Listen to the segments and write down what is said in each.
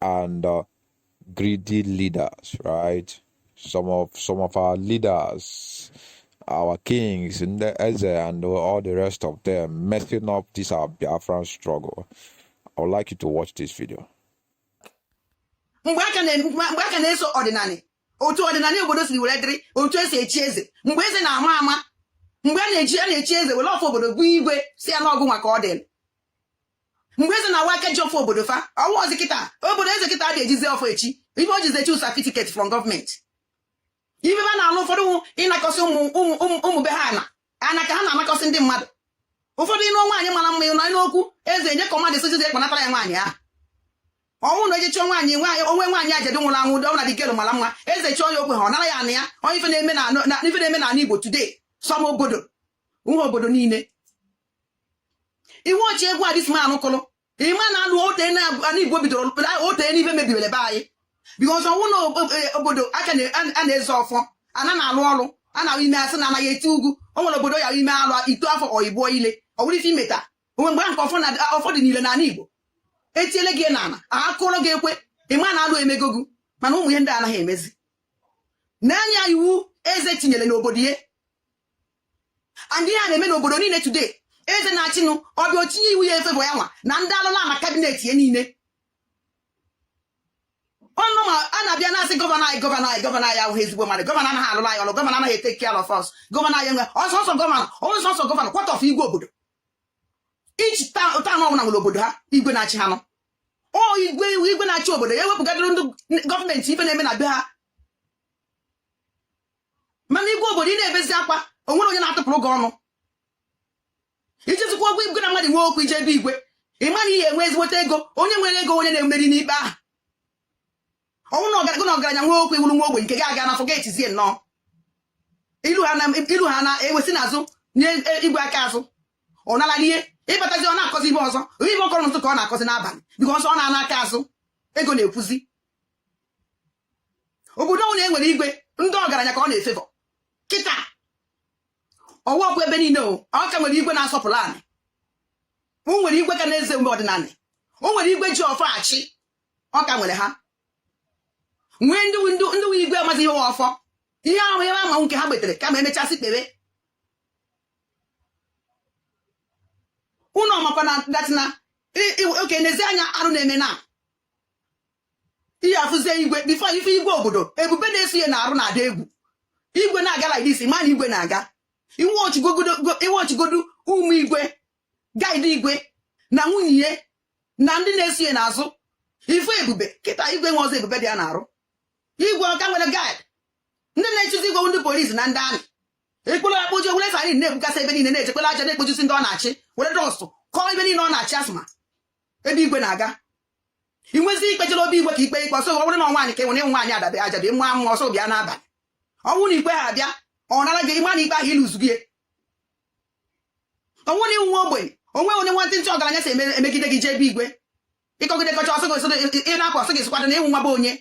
and uh, greedy leaders, right? Some of some of our leaders, our kings ndị Eze and all the rest of them messing up this our Biafran struggle. I would like you to watch this video. mgbe a ka na- mgbe mgbe a ka na-eso ọdịnanị otu ọdịnanị obodo siri were dịrị otu e si echi eze mgbe eze na-ama ama mgbe a na-eji a na-echi eze were ọfọ obodo bụ igwe si ala ọgụ maka ọ dịrị mgbe eze na-awa aka ji ọfọ obodo fa ọ wụrọzi kịta obodo eze kịta adị ejizi ọfọ echi ife e jizi echi certificate from government ife ba na-alụ ụfọdụ ịnakọsị ụmụ be ha ana ana ka ha na-anakọsị ndị mmadụ ụfọdụ ịnụ nwaanyị mara mma ịnọ n'okwu eze enye command soldiers ekpanatara ya nwaanyị ahụ ọ wụ na e je chọọ nwaanyị nwaanyị onwe nwaanyị ajadu nwụrụ anwụ dị ọbụla dịgelu mara mma eze chọọ ya okwe ha ọ nara ya na ya ọ wụ ife na-eme n'ala igbo today some obodo ọ wụrọ obodo niile iwu ochie gwa this man kụrụ ịma na alụ ote na igbo bidoro ote n'ife mebibere be anyị because ọ wụ na obodo a ka na-ezo ọfọ ana na-alụ ọrụ ana ahụ ime asị na anaghị eti ugwu o nwere obodo ya ime alụ ito afọ oyibo ile ọ bụrụ ife imeta onwe mgbe ahụ ka ọfọ dị niile n'ala igbo etiele gị n'ala akụrụ gị ekwe ịma na alụ emego gị mana ụmụ ihe ndị a anaghị emezi n'anị a iwu eze tinyere n'obodo ya and ihe a na-eme n'obodo niile today eze na-achịnụ ọ bịa o tinye iwu ya ife bụ ya nwa na ndị alụlụ ana cabinet ya niile ọnụ ma a na-abịa na-asị governor anyị governor anyị governor anyị awụghị ezigbo mmadụ governor anaghị alụlụ anyị ọlụ governor anaghị etake care of us governor anyị ọ wụ sọsọ governor ọ wụ sọsọ governor what of igwe obodo each town ọbụla nwere obodo ha igwe na-achị ha nọ ọ igwe igwe na-achị obodo ya ewepụgadịrị ndị government ife na-eme na be ha mana igwe obodo ị na-ebezi akwa o nwere onye na-atụpụrụ gị ọnụ ijezikwa ọgwụ igwe na mmadụ nwee okwu i jee be igwe ị mara ihe enwe ezigbote ego onye nwere ego onye na-emeri n'ikpe ahụ ọ wụ na ọgaranya na ọgaranya nwee okwu ị wụrụ nwa ogbenye nke gị aga na forgetizie nnọọ ilu ha na-ewe si n'azụ nye e, igwe aka azụ ọ nala ihe ịbatazi ọ na-akọzi ife ọzọ ọ wụrọ ife ọ kọrọ n'ụtụtụ ka ọ na-akọzi n'abalị because ọ na-ana aka azụ ego na-ekwuzi obodo ọbụla e nwere igwe ndị ọgaranya ka ọ na-efavour kịta ọ wụrọkwa ebe niile o ọ ka nwere igwe na-asọpụrụ anị o nwere igwe ka na-eze mgbe ọdịnanị o nwere igwe ji ọfọ achị ọ ka nwere ha nwee ndị wụ igwe amazi ihe wụ ọfọ ihe ahụ ebe ama nke ha gbetere kama emechasị kpere ụnụ ọmakwa na datina oke n'ezi anya arụ na-eme na ihe afụzie igwe before ife igwe obodo ebube na-eso ya n'arụ na-ada egwu igwe na-aga like this ma na igwe na-aga i wechigodu ụmụ igwe guard igwe na nwunye ya na ndị na-eso ya n'azụ ife ebube kịta igwe nwe ọzọ ebube dị ya n'arụ igwe ọka nwere guard ndị na-echezi igwe ndị police na ndị army ekporo akpoji were siren na-egbukasị ebe niile na-echekwala aja na-ekpojusi ndị ọ na-achị were dust kọọ ebe niile ọ na-achị asthma ebe igwe na-aga ị nwezi ikpe jere obi igwe ka ikpe ikpe ọsọ ọ bụrụ na nwaanyị ka enwere ịnwe nwaanyị adabe ajabe mma mma ọsọ bịa n'abalị ọ bụrụ na ikpe ha abịa ọ nara gị ị ma na ikpe ahụ ị luzugo ya ọ bụrụ na ị wụ nwa ogbenye o nwe onye nwantịntị ọgaranya si emegide gị jee ebe igwe ị kọgide kọcha ọ sọ gị ị na-apụ ọ sọ gị sịkwado na ị wụ nwa ogbenye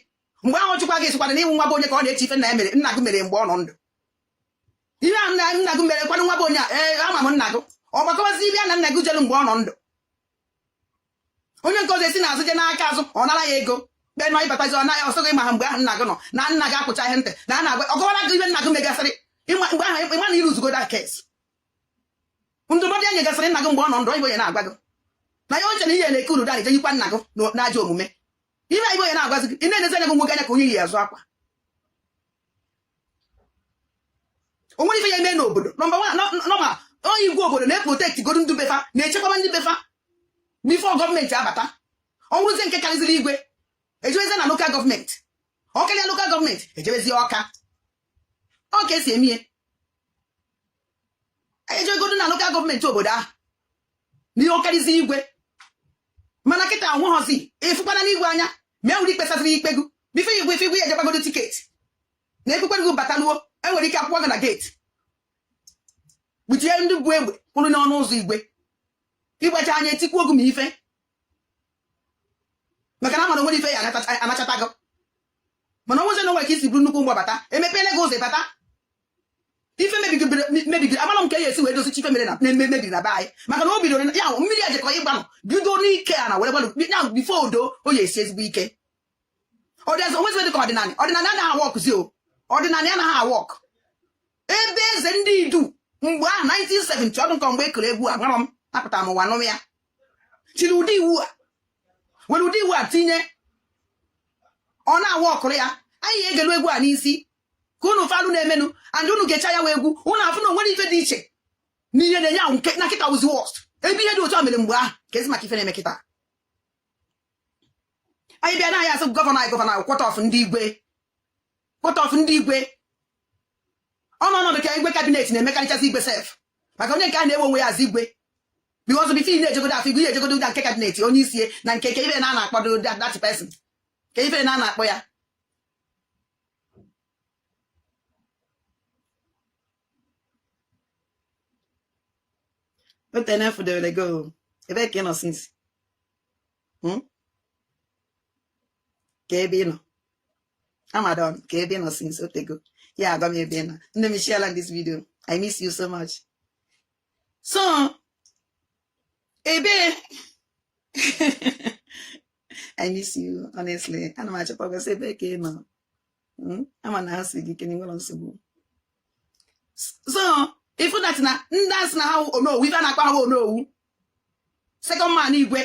mgbe ahụ chụkwa gị sịkwado na ị wụ nwa ogbenye ka ọ na-eche ife nna ya mere nna gị mere mgbe ọ nọ ndụ ihe a nna nna gị mere kwanụ nwa ogbenye a ee ama m nna gị ọ gbakọbazi ebe ya na nna gị jelu mgbe ọ nọ ndụ onye nke ọzọ esi n'azụ je n'aka azụ ọ nara ya ego be nọ ị batazi ọ naghị ọ sọ gị ma ha mgbe ahụ nna gị nọ na nna gị akpụcha ihe ntị na a na-agwa ọ kọwara gị ihe nna gị megasịrị mgbe ahụ ị ma na ị luzugo the case ndụmọdụ ya nyegasịrị nna gị mgbe ọ nọ ndụ igwe ya na-agwa gị na ya eche na ihe na-eke uru dara ije yikwa nna gị n'ajọ omume ihe igwe ya na-agwazi gị ị na-enezi anya gị nwoke anya ka onye yi azụ akwa o nwere ife ya eme n'obodo nọmba nọma onye igwe obodo na-eprotect godu ndị be fa na-echekwaba ndị be fa before government abata ọ bụrụzie nke karịziri igwe ejewezi na local government ọ karịa local government ejewezi ọka ọ ka e si eme ihe ejegodu na local government obodo ahụ n'ihe ọ karịzi igwe mana kịta a wụghọzi ịfụkwana n'igwe anya ma e nwere ikpe saziri ikpe gị before igwe ife igwe ya ejekwagodu ticket na ekpekwe gị bataluo e nwere ike akwụkwọ gị na gate gbuchie ndị bu egbe kwụrụ n'ọnụ ụzọ igwe ịgbacha anya etikwuo gị ma ife maka na a mara o nwere ife ya anachata gị mana ọ wụzi na o nwere ka i si bụrụ nnukwu mgbabata emepeela gị ụzọ ị bata ife mebigiri amara m ka ya esi wee dozicha ife mere na mebiri na be anyị maka na o bidoro ya ahụ mmiri a jekọ ịgbanụ bido n'ike a na were gbanụ ya before odo o ya esi ezigbo ike ọdịnala o nwezi dị ka ọdịnala ọdịnala anaghị aworkzi o ọdịnala anaghị awork ebe eze ndị idu mgbe ahụ 1970 ọdụ nke mgbe e kere egwu a mara m apụtara m ụwa nụm ya chiri ụdị iwu a were ụdị iwu a tinye ọ na-aworkụrụ ya anyị egelu egwu a n'isi ka unu falụ na-emenụ and unu ga-eche ya wee egwu unu afụ na onwere ife dị iche na ihe na-enye ahụ na kịta wuzi worst ebe ihe dị otu a mere mgbe ahụ ka ezi maka ife na-eme kịta anyị bịa na anyị asị gọvanọ anyị gọvanọ anyị cut off ndị igwe cut off ndị igwe ọnụ ọnọdụ ka igwe kabinet na-emekarịchasị igwe sef maka onye nke a na-ewe onwe ya as igwe because before ị na-ejegodo afụ igwe ị ya-ejegodo ụda nke kabinet onye isi na nke ke ife a na-akpọdo that person ke ife a na-akpọ ya O te m fụdewere gị o. Ebee ka ị nọ since? Hmm? Ke ebe ị nọ? Amadon, ke ebe ị nọ since o tego. Ị ya agwa m ebe ị nọ. Nne m share this video. I miss you so much. So, ebe I miss you honestly ana m achọkwa gị since ebe ka ị nọ hmm? ama na ha si gị kene nwere nsogbu so ị fụ that na ndị a sị na ha onowu ife a na-akpọ ha onowu second man igwe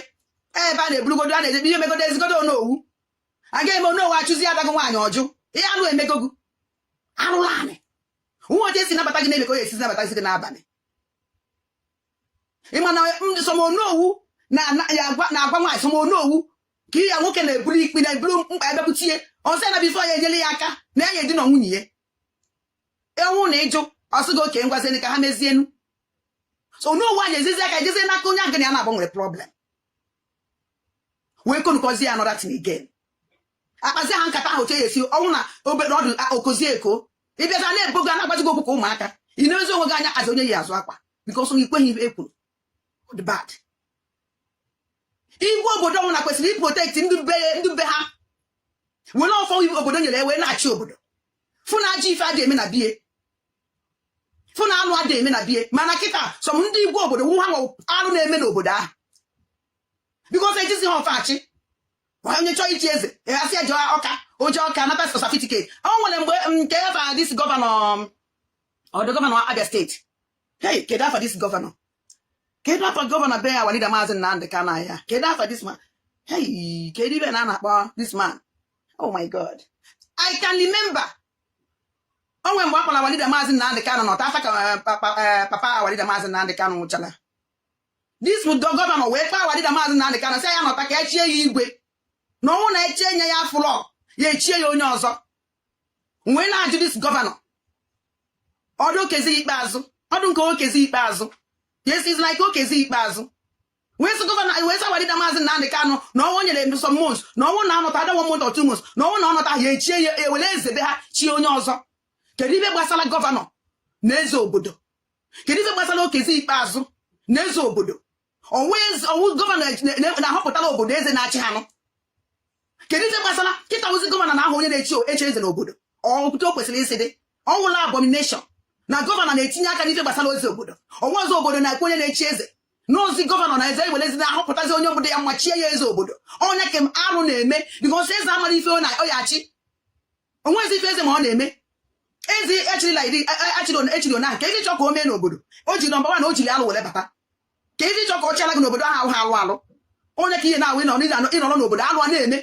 ebe a na-eburugodo a na-eje ihe megodo ezigodo onowu aga eme onowu achụzi adago nwaanyị ọ jụ ihe alụ emegogo alụlụ anị nwa oche si nabata gị na-eme ka onye esi nabata gị n'abalị ị ma na some onowu na-agwa nwaanyị some onowu ka ihe ya nwoke na-eburu ikpe na-eburu mkpa ya bịakwute ya ọ sị na before ya enyere ya aka na ya edina nwunye ya ọ wụ na ị jụ ọ sị gị okay ngwazienu ka ha mezienu so onowu anyị ezizi aka ejezie n'aka onye agana ya na-agbanwere problem wee konukọzie ya another thing again akpazi ha nkata ahụ che ya esi ọ wụ na obere ọdụ okozi eko ịbịaza na-ebo gị a na-agwazi gị okwu ka ụmụaka ị na-emezi onwe gị anya as onye yi azụ akwa because na i kweghị ihe e kwuru but igwe obodo ọ wụ na kwesịrị iprotect ndị be ha were ọfọ obodo nyere wee na-achị obodo fụ na ajọ ife adị eme na be ya fụ na alụ adị eme na be ya mana kịta some ndị igwe obodo wụ ha nwe alụ na-eme n'obodo ahụ because ejizi ha ọfọ achị onye chọọ ichi eze a sị ya je Ọka o je Ọka nata satifiketi o nwere mgbe mm, ke afa this gọvanọ mm, old gọvanọ Abịa steeti hey kedu afa this gọvanọ kedu afa gọvanọ be our leader maazị Nnamdị Kanụ ya kedu afa this man hey kedu ife a na-akpọ this man oh my god I can't remember o nwe mgbe ọ kpọrọ our leader maazị Nnamdị Kanụ nọta after ka eh, eh, papa our leader maazị Nnamdị Kanụ nwụchara this bụ gọvanọ wee kpọọ our leader maazị Nnamdị Kanu sị ya nọta ka e chie ya igwe na ọ wụ na e chinye ya afụlọ ya e chie ya onye ọzọ wee na-ajụ this gọvanọ ọ wụ Okezie Ikpeazụ ọ wụ nke Okezie Ikpeazụ yes it's like Okezie Ikpeazụ wee sị gọvanọ wee sị our leader maazị Nnamdị Kanu na ọnwụ nyere some months na ọ wụ na ọ nọta under one month or two months na ọ wụ na ọ nọta ya e chie ya e were eze be ha chie onye ọzọ kedu ife gbasara gọvanọ na eze obodo kedu ife gbasara Okezie Ikpeazụ na eze obodo ọ wụ gọvanọ na-ahọpụtara obodo eze na-achị ha nụ kedu ife gbasara kịta ọ wụzi gọvanọ na-ahọ onye a na-echi eze n'obodo ọ bụ otu o kwesịrị isi dị ọ wụrọ abomination na gọvanọ na-etinye aka n'ife gbasara eze obodo ọnwa ọzọ obodo na-ekwu onye a na-echi eze na ọ wụzi gọvanọ na eze iwelezi na-ahọpụtazi onye obodo ya ma chie ya eze obodo onye kem arụ na-eme because eze amarọ ife ọ ya-achị o nwezi ife eze ma ọ na-eme eze e chirila iri achiri ona ka ife chọ ka o mee n'obodo o ji number one na o jiri alụ were bata ka i ji chọ ka ọ chịala gị n'obodo ahụ ha alụ alụ onye ka ihe na-awụ ịnọrọ n'obodo alụ a na-eme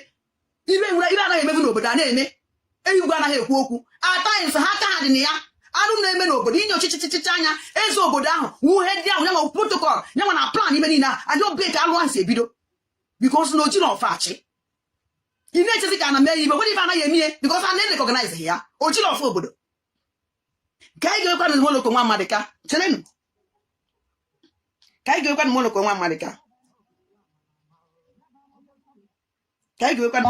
ife nwere ife anaghị emebu n'obodo a na-eme igwe anaghị ekwu okwu at times ha aka ha dị na ya alụ na-eme n'obodo i nyochachaa anya eze obodo ahụ wụ head ahụ nya nwa protocol nya nwa na-plan ife niile a and ọ ebe ka alụ ahụ si ebido because na o jirọ ọfọ achị ị na-echezi ka a na-eme ya ife nwere ife anaghị eme ihe because a na-erecognize ya o jiri ọfọ obodo ka anyị geekwanụ Morocco nwa Maduka cherenụ ka anyị geekwanụ Morocco nwa Maduka ka anyị geekwanụ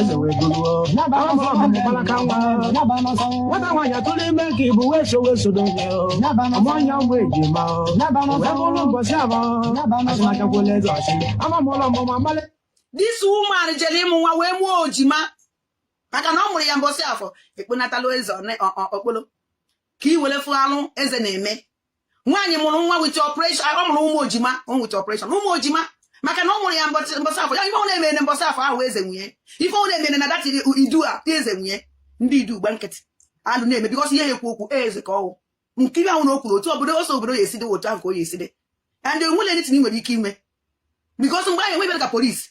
eze wee gụruo afọ mụbara ka nwa nwata nwaanyị atụrụ ime ka ibu wee so wee sodo nye ọmụanya ụmụ ejima wee bụrụ ụbọchị afọ asịmachakwala eze ọchị ama m ụlọ ọmụmụ amalị this woman jere ịmụ nwa wee mụọ ejima maka na ọ mụrụ ya mbọsị afọ ekponatala eze okpolo ka i were fụ alụ eze na-eme nwaanyị mụrụ nwa with operation ọ mụrụ ụmụ ejima with operation ụmụ ejima maka na ọ mụrụ ya mbọsị afọ ya ife ọ bụna mere mbọsị afọ ahụ eze nwe ya ife ọ bụna mere na that Idu a eze nwe ya ndị Idu gba nkịtị alụ na-eme because ị ya-ekwu okwu eze ka ọ wụ nkiri ahụ na o kwuru otu obodo o sị obodo ya-esi dị otu ahụ ka ọ ya-esi dị and e nwerọ anything i nwere ike ime because mgbe ahụ e nweberọ ka police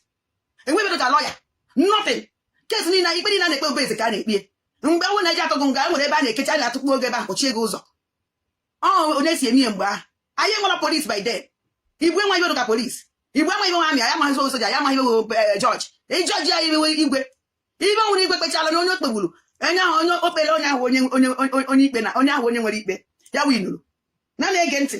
e nweberọ ka lawyer nothing case niile ikpe niile a na-ekpe ọ be eze ka a na-ekpe mgbe ahụ na eze atụọ gị nga e nwere ebe a na-ekecha a na-atụkpuo gị ebe ahụ kpọchie gị ụzọ ọ onye si eme ihe mgbe ahụ anyị enwerọ police by then Igbo enweghị ife dị ka police Igbo amaghị ife wụ army ha amaghị ife wụ soja ha amaghị ife wụ eh, judge ịjudge ya ife igwe ife nwere igwe kpechala na onye o kpegburu onye ahụ onye o kpere onye ahụ onye onye onye ikpe na onye ahụ onye nwere ikpe ya winuru na na-ege ntị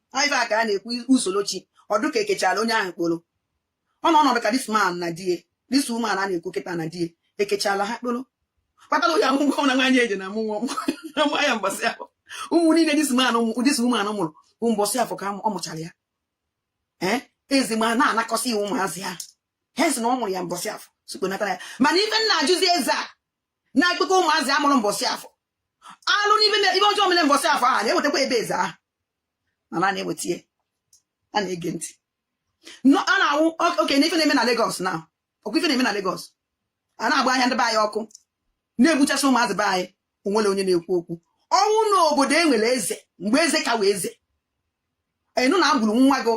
ife a ka a na-ekwu usoro chi ọ dụ ka ekechara onye ahụ kporo ọ nọ ọnọdụ ka this man na di ya this woman a na-ekwu kịta na di ya ekechala ha kporo kpatara ya ahụ na nwaanyị eji na mụnwa nwa ya mbọsị ahụ ụmụ niile this man this woman mụrụ bụ mbọsị afọ ka ọ mụchara ya ee eh? eze ma na-anakọsị iwu ụmụazị ha ha si na ọ mụrụ ya mbọsị afọ sị kpọnatara ya mana ife m na-ajụzi eze a na-akpọkọ ụmụazị a mụrụ mbọsị afọ alụ na ife ife ọjọọ mere mbọsị afọ ahụ na-ewetakwa ebe eze ahụ na na na-eweta ya a na-ege ntị a na-awụ oke na ife na-eme na Lagos na ọkwa ife na-eme na Lagos a na-agba ahịa ndị be anyị ọkụ na-egbuchasị ụmụazị be anyị o nwere onye na-ekwu okwu ọ wụ na obodo e nwere eze mgbe eze ka wụ eze ị nụ na egburu nwa gị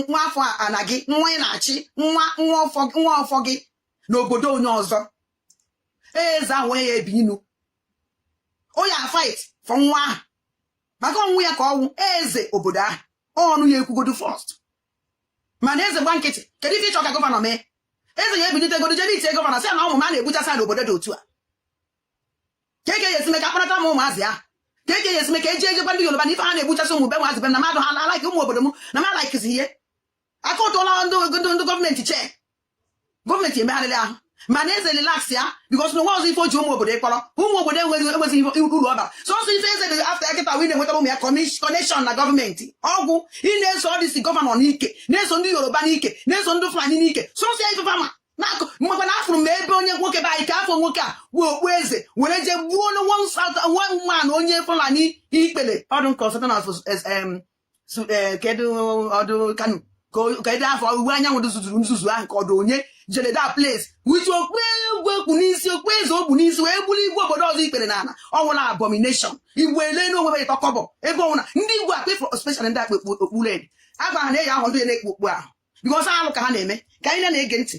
nwa afọ ana gị nwa ị na-achị nwa nwa afọ gị n'obodo onye ọzọ eze ahụ ọ ya ebinie ọ ya fight for nwa ahụ maka ọ wụ ya ka ọ wụ eze obodo ahụ ọnụ ya ekwugodu first mana eze gba nkịtị kedu ife ị chọ ka gọvanọ mee eze ya ebilite godo jebe itie gọvanọ sị na ụmụ m a na-egbuchasị n'obodo dị otu a kee ka a ya esi me ka a kpọnatara m ụmụazị ahụ kee ka a ya esi me ka eji ejekwa ndị Yoruba na ife ha na-egbuchasị ụmụ be nwaazị be na mmadụ ha alaiki ụmụ obodo m na m alaikizi ihe akọtụla ndị ndị gọọmenti chee gọọmenti emegharịrị ahụ mana eze relax ya because na nwa ọzọ ife o ji ụmụ obodo kpọrọ ụmụ obodo enweghị enweghị uru ọ bara sọsọ ife eze dị after ya kịta wee na-enwetara ụmụ ya connection na gọọmenti ọ gwụ ị na-eso ọdịsi gọvanọ n'ike na-eso ndị yoruba n'ike na-eso ndị fulani n'ike sọsọ ya ife fama na-akụ mgbe na afụrụ m ebe onye nwoke be anyị ka afọ nwoke a bu okpu eze were jee gbuo nwa man onye fulani ikpele ọdụ nke ọsọta na e, kedu ọdụ kanu kedu afọ Iwuanyanwụ ndị zuzuru nzuzu ahụ kedu onye jere that place with okpu igwe o kpu n'isi okpu eze o bu n'isi wee gbuoro igwe obodo ọzọ ikpere n'ala ọ wụla abomination igwe elena onwe ha ịtọ kọbọ ebe ọwụna ndị igwe akpa ifo special ndị a kpu okpu red agwa ha na-eyi ahụ ndị na-ekpu okpu ahụ because alụ ka ha na-eme ka anyị na-ege ntị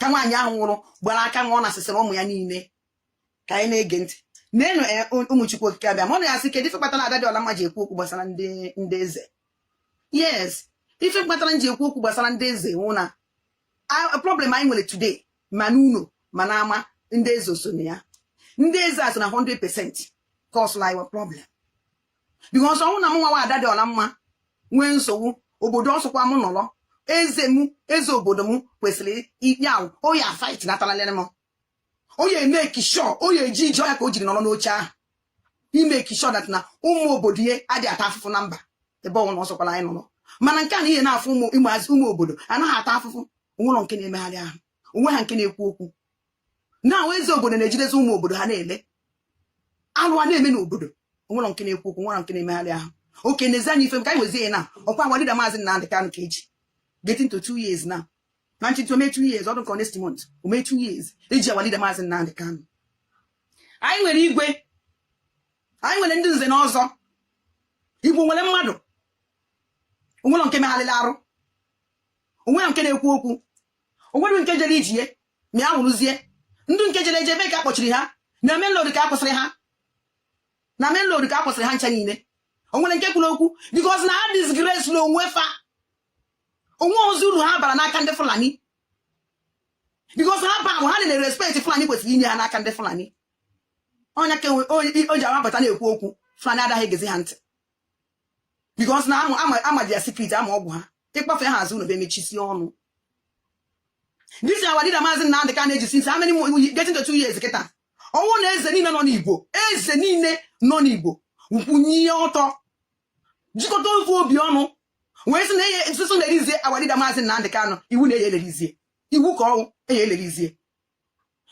ka nwaanyị ahụ nwụrụ gbara aka nwa ọ nasịsịrị ụmụ ya niile ka anyị na-ege ntị neenụ eh, ụmụ Chukwu Okike abịa ma unu ya asị kedu ife kpatara Ada Dịọla Mma ji ekwu okwu gbasara ndị eze yes ife kpatara m ji ekwu okwu gbasara ndị eze wụ na problem anyị nwere today ma n'ụlọ ma n'ama ndị eze so na ya ndị eze a so na 100 percent cause our problem because ọ wụ na mụnwa wụ ada dị ọla mma nwee nsogbu obodo ọsọkwa m nọrọ eze m eze obodo m kwesịrị ikpe ahụ ọ ya a fight nataralere m ọ ya emake sure ọ ya eji ije ọ ya ka o jiri nọrọ n'oche ahụ ịmake sure that na ụmụ obodo ya adị ata afụfụ na mba ebe ọwụna ọsọkwala anyị nọrọ mana nke a na ha na-afụ ụmụ ụmụ obodo ha na-ata afụfụ o nwelọ nke na-emegharị ahụ o nwelọ nke na-ekwu okwu na eze obodo na-ejidezi ụmụ obodo ha na-ele alụ a na-eme n'obodo onwere nke na-ekwu okwu nwere nke na-emegharị ahụ oke nezie anya ife m ka anyị wezie ya na ọkwa our leader maazị Nnamdị Kanụ ka eji getting to two years now na nchịntị ome two years ọdụ nke next month ome two years eji our leader maazị Nnamdị Kanụ anyị nwere igwe anyị nwere ndị nze na ọzọ igbo nwere mmadụ onwere nke megharịrị arụ onwere nke na-ekwu okwu o nwere nke jere ije ma ya wụrụzie ndị nke jere eje ebe ka akpọchiri ha na main road ka a kwụsịrị ha na main road ka a kwụsịrị ha ncha niile o nwere nke kwuru okwu because na ha disgrace na onwe fa onwe ozi uru ha bara n'aka ndị Fulani because ha ba ha na respect Fulani kwesịrị inye ha n'aka ndị Fulani ọ ya ka o ji awapụta na-ekwu okwu Fulani adaghị egezi ha ntị because na ama their secret ama ọgwụ ha ịkpafe ha azụ na be mechisi ọnụ this is our leader maazị Nnamdị Kanu eji since how many getting to two years kịta ọwụ na eze niile nọ n'Igbo eze niile nọ n'Igbo kwụnie ọtọ jikọta ofu obi ọnụ wee sị na eye nsụsụ na release our leader maazị Nnamdị Kanu iwu na eye release ya iwu ka ọwụ eye release ya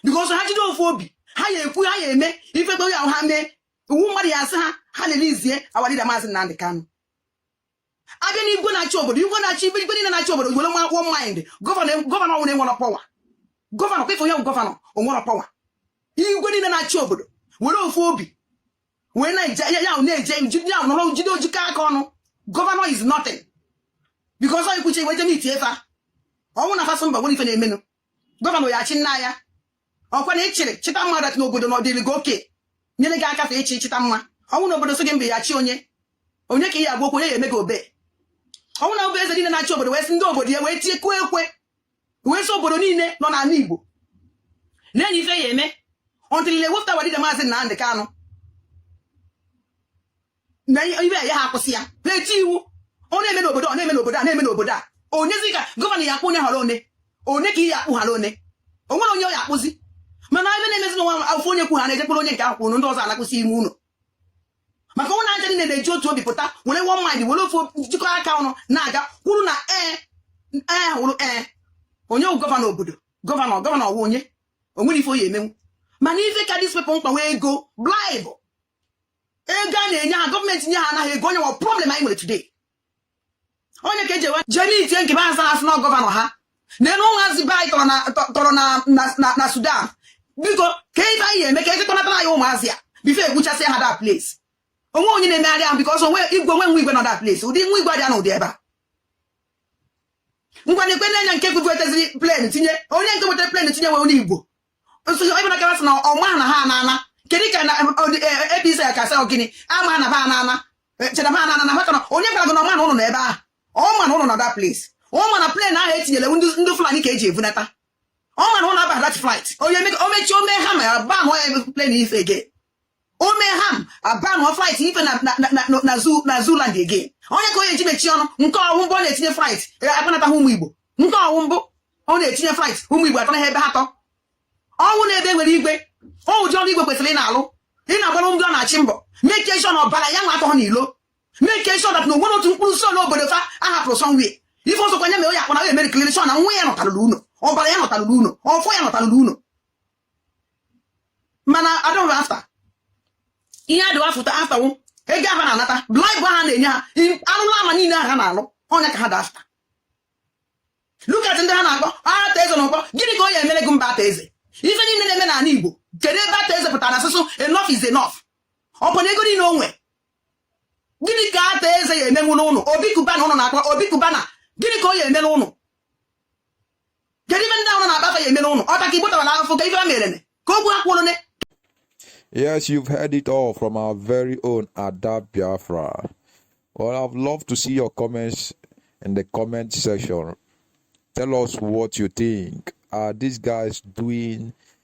because ha jide ofu obi ha ya ekwu ha ya eme ife kpere ahụ ha mee iwu mmadụ ya asị ha ha release our leader maazị Nnamdị Kanụ abịa na igwe na-achị obodo igwe na-achị ibe igwe niile na-achị obodo were one mind gọvanọ gọvanọ ọwụ na o nwere power gọvanọ kwefe ya gọvanọ onwere power igwe niile na-achị obodo were ofu obi wee na-eje ya ahụ na-eje ya ahụ nọrọ jide jikọ aka ọnụ gọvanọ is nothing because ọ ikwuche iwe je meet fa ọwụ na fa sị mba nwere ife na-emenụ gọvanọ ya achị nna ya ọkwa na ịchịrị chịta mma that n'obodo na ọdịrị gị oke nyere gị aka fa ịchị chịta mma ọwụ na obodo sị gị mba ị ya achị onye onye ka ị ya agwa okwu onye ya eme gị obey ọwụ na ọbụ eze niile na-achị obodo wee sị ndị obodo ya wee tie kụọ ekwe wee sị obodo niile nọ n'ala Igbo na enwe ife ya eme until e wepụta our leader maazị Nnamdị Kanụ na ibe ya ha akwụsị ya ha eti iwu ọ na-eme n'obodo ọ na-eme n'obodo a na-eme n'obodo a onyezi ka gọvanọ ya akpụ onye hara one one ka ị ya akpụ hara one o nwere onye ọ ya akpụzi mana ebe na-emezi na ọwụ ofu onye kwu ha na-eje kpụrụ onye nke ahụ kwuru ndị ọzọ anọkwasị ime ụlọ maka ọwụ ha ncha niile na-eji otu obi pụta were one mind were ofu jikọ aka ọnụ na-aga kwuru na ee ee hụrụ ee onye wụ gọvanọ obodo gọvanọ gọvanọ ọwụ onye onwere ife ọ ya emenwu mana ife ka these people mkpa wụ ego bribe ego a na-enye ha gọọmenti nye ha anaghị ego ọ ya wụ problem anyị nwere today onye ka ejewe je meet nke be azara asị na gọvanọ ha neenu ụmụazị be anyị tọrọ na sudan biko ka ife anyị eme ka ekekọnatara anyị ụmụazị a before egbuchasị ha that place onwe onye na-emegharị ahụ because onwe igwe onwe nwe igwe nọ that place ụdị nwa igwe dị na ụdị ebe a ngwa nekwe na onye nke weteziri plane tinye onye nke wetara plane tinye wụ onye igbo ebe na kawasị na ọ ma na ha anana kedu ka na APC e, e, ka sị gịnị ama na ha anana e, cheta ha anana na maka na onye gwara gị na ọ ma na ụnụ nọ ebe ahụ ọ ma na ụnụ nọ that place ọ ma na plane ahụ etinyere ndị Fulani ka eji evunata ọ ma na ụnụ abaghị that flight onye omechi ome ha ma abanye plane ife again ome ha ma abanye flight ife na na- na- na- na- na zoo na zoo land again onye ka onye ji mechie ọnụ nke ọ wụ mbụ ọ na-etinye flight eh, akpọnataghị ụmụ Igbo nke ọ wụ mbụ ọ na-etinye flight ụmụ Igbo atọ na ebe ha tọ ọ wụ na ebe e nwere igwe ọ ụdị ọrụ igwe kwesịrị ị na-alụ ị na-agbara ndị ọ na-achị mbọ make sure na ọbara ya nwa atọghọ n'ilo make sure that na o nwere otu mkpụrụ si n'obodo fa a hapụrụ somewhere ife ọzọkwa nya mere onye akpọna ya e makeriri sure na nwa ya nọtarụrụ ụnọ ọbara ya nọtarụrụ ụnọ ọfọ ya nọtarụrụ ụnọ mana adịghị after ihe ha dị after after wụ ego ha na-anata bribe ha na-enye ha arụrụ ana niile ahụ ha na-alụ ọ nya ka ha dị after look at ndị ha na-akpọ Arthur Eze na Ukpo gịnị ka ọ ya emere gị mba Arthur Eze ife niile na-eme n'ala Igbo kedu ebe Arthur Eze pụtara sị enough is enough ọ bụ na ego niile o nwe gịnị ka Arthur Eze ya emenwuru ụnụ Obi Cubana ụnụ na-akpọ Obi Cubana gịnị ka ọ ya emere ụnụ kedu ife ndị ahụ na-akpọ afa ya emere ụnụ ọ taa ka Igbo tara na afọ ka ife ha mere ka okwu ha kwuru Yes, you've heard it all from our very own Ada Biafra. Well, I'd love to see your comments in the comment section. Tell us what you think. Are these guys doing